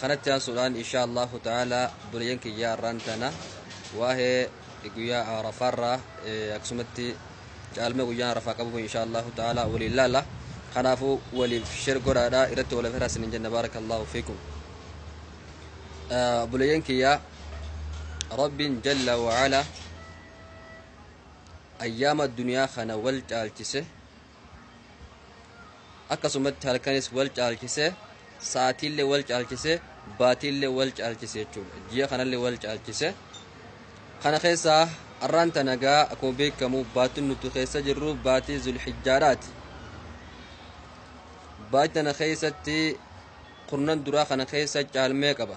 kanatti aansuudhaan insha allahu ta'ala buleeyyan kiyyaa irraan tana waa'ee guyyaa arafaarraa akkasumatti caalma guyyaan arafaa qabu insha allahu ta'ala waliin laala kanaafu waliif shir godhaadha irratti waliif hiraas hin jenna baarakallahu fiikum buleeyyan kiyyaa rabbiin jalla wa'ala ayyaama duniyaa kana wal caalchise akkasumatti halkanis wal caalchise sa'aatiillee wal caalchise baatiillee wal caalchise jechuudha ji'a kanallee wal caalchise kana keessaa arraan tanagaa akkuma beekamu baatiin nuti keessa jirru baatii zulhijjaadhaati baatii tana keessatti kurnan duraa kana keessa caalmee qaba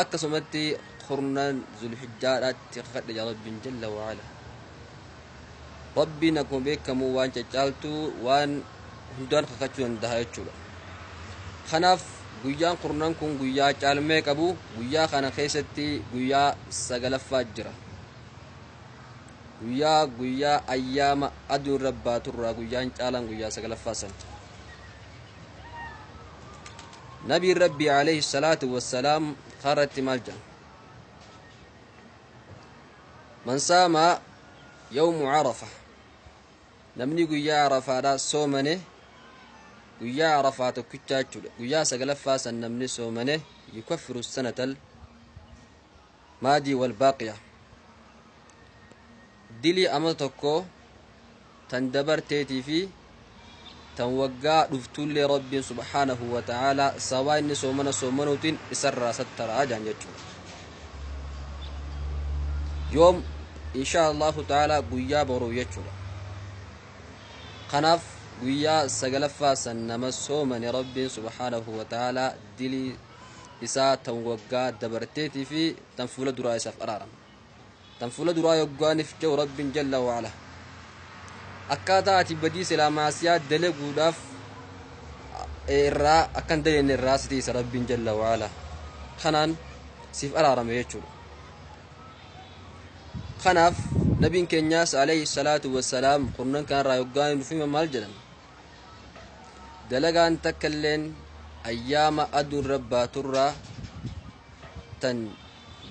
akkasumatti kurnaan zulhijjaadhaatti kakadhe yaa rabbiin jalla waala rabbiin akkuma beekamu waan caccaaltu waan hundaan kakachuu danda'a jechuudha kanaaf guyyaan kurnaan kun guyyaa caalmee qabu guyyaa kana keessatti guyyaa sagalaffaa jira guyyaa guyyaa ayyaama aduun rabbaaturraa guyyaan caalaan guyyaa sagalaffaa san nabiin rabbii alayhi salaatu wassalaam karratti maal jedhan man saama yawmu carafa namni guyyaa arafaadha soomane guyyaa arafaa tokkichaa jechuudha guyyaa saglaffaa san namni soomane yukaffiru sanatal maadii wal baaqiya dilii amata tokkoo tan dabarteetii fi tan waggaa dhuftuullee rabbiin subhaanahu wa ta'aalaa sabaa inni soomana soomanuutiin isarraa sattaraa jaan jechuudha yoom insha allahu ta'aalaa guyyaa boruu jechuudha kanaaf guyyaa sagalaffaa san nama soomane rabbiin subhaanahu wa ta'aalaa dilii isaa tan waggaa dabarteetii fi tan fuula duraa isaaf araarama tan fuula duraa yoggaaniif ce'u rabbiin jalla waala akkaataa ati badii silaa maasiyaa dalaguudhaaf irraa akkan dalenne irraa siti isa rabbiin jalla waala kanaan siif araarame jechuudha kanaaf nabiin keenyaas alayhi salaatu wassalaam kurnan kanarraa yoggaanii dhufima maal jedhan dalagaan takka illeen ayyaama aduun rabbaa turraa tan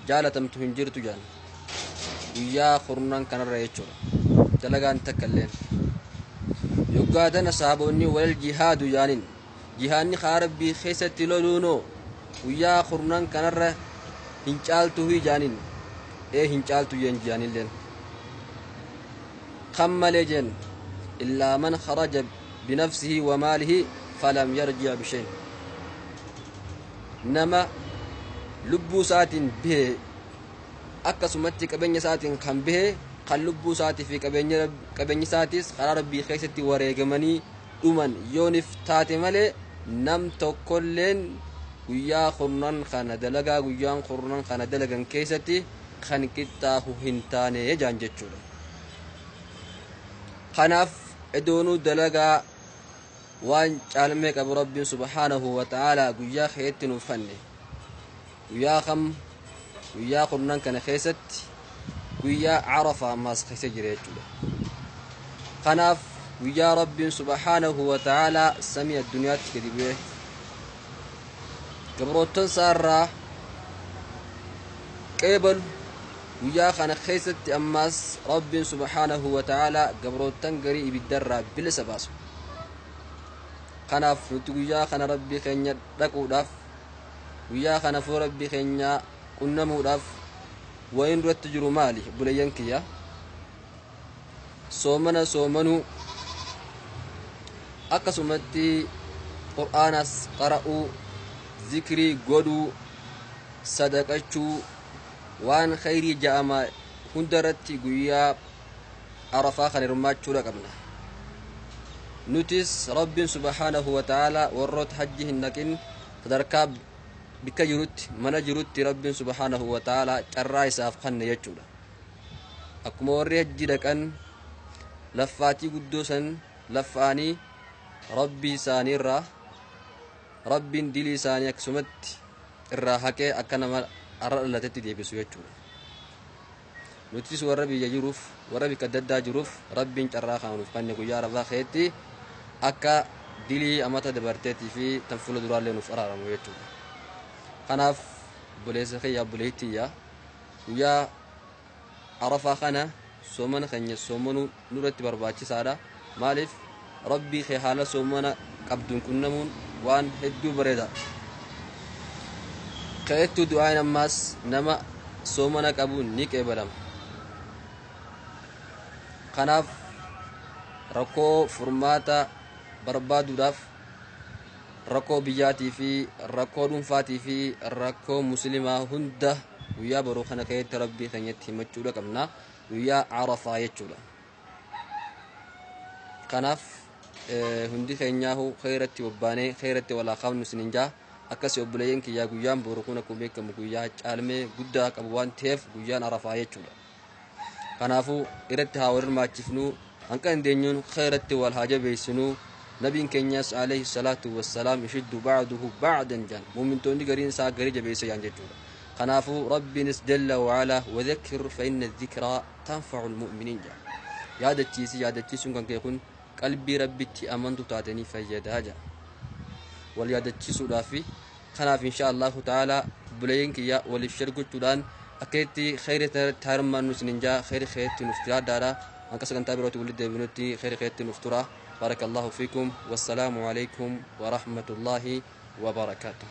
jaalatamtu hin jirtu jedhan guyyaa kurnan kanarra jechuudha dalagaan takka illeen yoggaa tana sahaabonni walal jihaadu jaanin jihaanni kaa rabbii keessatti loluunoo guyyaa kurnan kanarra hin caaltu hii jaanin ee hin caaltu jeen jihaanilleen Kan malee jeen illaa man kharaja binafsihi wa maalihi falam yarji' bishayn. Nama lubbuu isaatiin bahe akkasumatti qabeenya isaatiin kan bahe kan lubbuu isaatii fi qabeenya Rab- qabeenyi isaatiis karaa rabbii keessatti wareegamanii dhuman yoonif taate malee nam tokkolleen guyyaa kurnan kana dalagaa guyyaan kurnan kana dalagan keessatti kan qixxaahu hin taane jaan jechuudha. kanaaf edoonuu dalagaa waan caalmee qabu rabbiin subhaanahu wa ta'aalaa guyyaa keetti nuuf fanne guyyaa kam guyyaa kurnan kana keessatti guyyaa carafa ammaas keessa jira jechuudha kanaaf guyyaa rabbiin subhaanahu wa ta'aalaa samii addunyaatti gadi bu'e gabroottan isaa irraa qeebalu Guyyaa kana keessatti ammaas Rabbiin subhaanahu wa ta'aalaa gabroottan garii ibiddarraa bilisa baasu. Kanaaf nuti guyyaa kana Rabbii keenya dhaquudhaaf guyyaa kana fuula Rabbii keenyaa qunnamuudhaaf wayiin duratti jiru maali buleeyyan kiyya soomana soomanuu akkasumatti qur'aanas qara'uu zikrii godhuu sadaqachuu waan khayrii ja'ama hunda irratti guyyaa arafaa kan hirmaachuudha qabna nutis rabbiin subhaanahu wa ta'aalaa warroota hajji hin dhaqin sadarkaa bikka jirutti mana jirutti rabbiin subhaanahu wa ta'aalaa carraa isaaf kanne jechuudha akkuma warri hajji dhaqan laffaatii guddoo san laffaanii rabbii isaaniirraa Rabbiin dilii isaanii akkasumatti irraa haqee akka nama har'a dhalatetti deebisu jechuudha. Nutis warra biyya jiruuf warra bikka adda addaa jiruuf Rabbiin carraa kana nuuf kenne guyyaa arafaa keetti akka dilii amata dabarteetii fi tan fuula duraallee nuuf araaramu jechuudha. Kanaaf obboleessa kiyya obboleettiyya guyyaa Arafaa kana soomana keenya soomanuu nurratti barbaachisaadha. Maaliif Rabbii kee haala soomana qabduun qunnamuun waan hedduu bareeda. Ka'ettuu du'aayin ammaas nama soomana qabuun ni qeebalama. Kanaaf rakkoo furmaata barbaaduudhaaf rakkoo biyyaatii fi rakkoo dhuunfaatii fi rakkoo muslimaa hunda guyyaa boruu kana keessatti rabbii keenyatti himachuudha qabna guyyaa arafaa jechuudha kanaaf eh, hundi keenyaahu keeratti bobbaanee keeratti walaa qabnu sinin jaa akkasi obboleeyyan kiyyaa guyyaan boru kun akkuma beekamu guyyaa caalmee guddaa qabu waan ta'eef guyyaan arafaa jechuudha kanaafuu irratti haa wal hirmaachifnuu hanqa dandeenyuun khayratti wal haa jabeessinuu nabiin keenyas alayhi salaatu wassalaam ishiddu ba'aduhu ba'adan jaan muumintoonni gariin isaa garii jabeessa jaan jechuudha kanaafuu rabbiinis jalla wa'ala wadhakkir fa'inna dhikraa tanfa'u lmu'miniin jaan yaadachiisi yaadachiisuun kan kee kun qalbii rabbitti amantu taatanii fayyadaa jaan wal yaadachiisuudhaa fi kanaaf insha allahu ta'ala buleeyyiin kiyya waliif share gochuudhaan akka itti kheyri irratti harmaannu isinin jaa kheyri keetti nuuf jiraadhaadha hanqa sagantaa birootti walitti deebinutti kheyri keetti nuuf tura barakallahu fiikum wassalaamu alaikum warahmatullaahi wabarakaatuh